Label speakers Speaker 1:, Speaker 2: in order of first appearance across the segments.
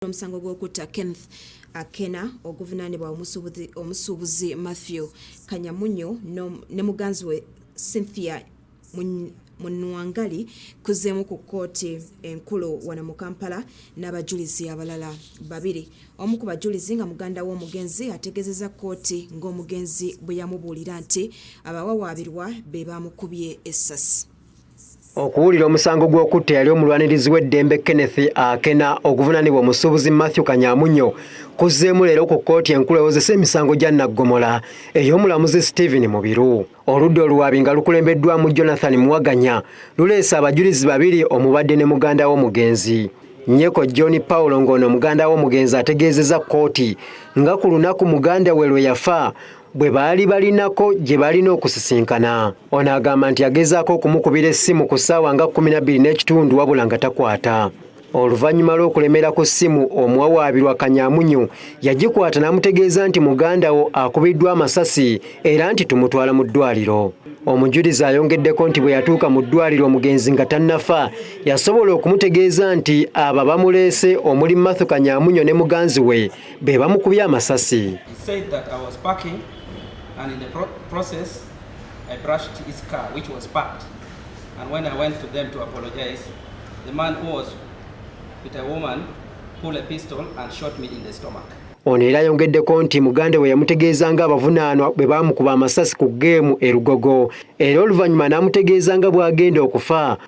Speaker 1: okuwulira omusango gw'okutta Kenneth Akena oguvunaanibwa omusuubuzi Matthew Kanyamunyu ne muganzi we Cynthia Munwangali kuzeemu ku kkooti enkulu wano mu Kampala n'abajulizi abalala babiri. Omu ku bajulizi nga muganda w'omugenzi ategeezezza kkooti ng'omugenzi bwe yamubuulira nti abawawaabirwa be baamukubye essasi. okuwulira
Speaker 2: omusango gw'okutta eyali omulwanirizi w'eddembe kenneth akena oguvunanibwa omusuubuzi matthew kanyamunyo kuzzeemu leero ku kkooti enkulu ewozesa emisango gya naggomola ey'omulamuzi stephen mubiru oludda oluwaabi nga lukulembeddwamu jonathan muwaganya luleese abajulizi babiri omubadde ne muganda w'omugenzi nyeko john paulo ng'ono muganda w'omugenzi ategeezezza kkooti nga ku lunaku muganda we lwe yafa bwe baali balinako gye baalina okusisinkana ono agamba nti yagezaako okumukubira essimu ku ssaawa nga 12 n'ekitundu wabula nga takwata oluvannyuma lw'okulemera ku ssimu omuwawaabirwa kanyamunyu yagikwata n'amutegeeza nti muganda wo akubiddwa amasasi era nti tumutwala mu ddwaliro omujulizi ayongeddeko nti bwe yatuuka mu ddwaliro omugenzi nga tannafa yasobola okumutegeeza nti abo abamuleese omuli mathu kanyamunyo ne muganzi we be bamukubye amasasi I
Speaker 3: brushed his car, which was parked. And when I went to them to apologize, the man who was with a woman pulled a pistol and shot me in the stomach. Ono era ayongeddeko
Speaker 2: nti muganda we yamutegeeza nga abavunaanwa bwe baamukuba amasasi ku ggeemu e Lugogo era oluvannyuma n'amutegeeza nga bw'agenda okufa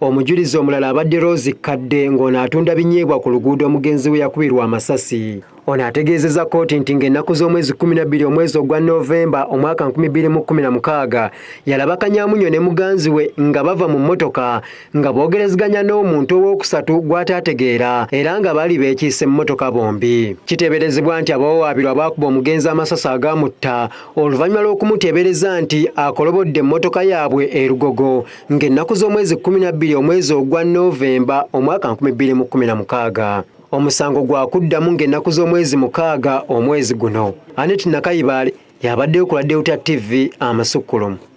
Speaker 3: Omujulizi omulala
Speaker 2: abadde Rose Kadde ng'ono atunda binyeebwa ku luguudo omugenzi we yakubirwa amasasi. Ono ategeezezza kkooti nti ng'ennaku z'omwezi 12 omwezi ogwa Novemba omwaka 2016 yalaba Kanyamunyo ne muganzi we nga bava mu mmotoka nga boogerezeganya n'omuntu owookusatu gw'ataategeera era nga baali beekiise mu mmotoka bombi. Kiteeberezebwa nti abawawaabirwa baakuba omugenzi amasasi agaamutta oluvannyuma lw'okumuteebereza nti akolobodde emmotoka yaabwe e Lugogo ng'ennaku z'omwezi 12 omwezi ogwa Novemba omwaka 2016 omusango gwa kuddamu ng'ennaku z'omwezi mukaaga omwezi guno Anet Nakayibaale yabaddeyo ku Ladewuta TV amasukkulumu.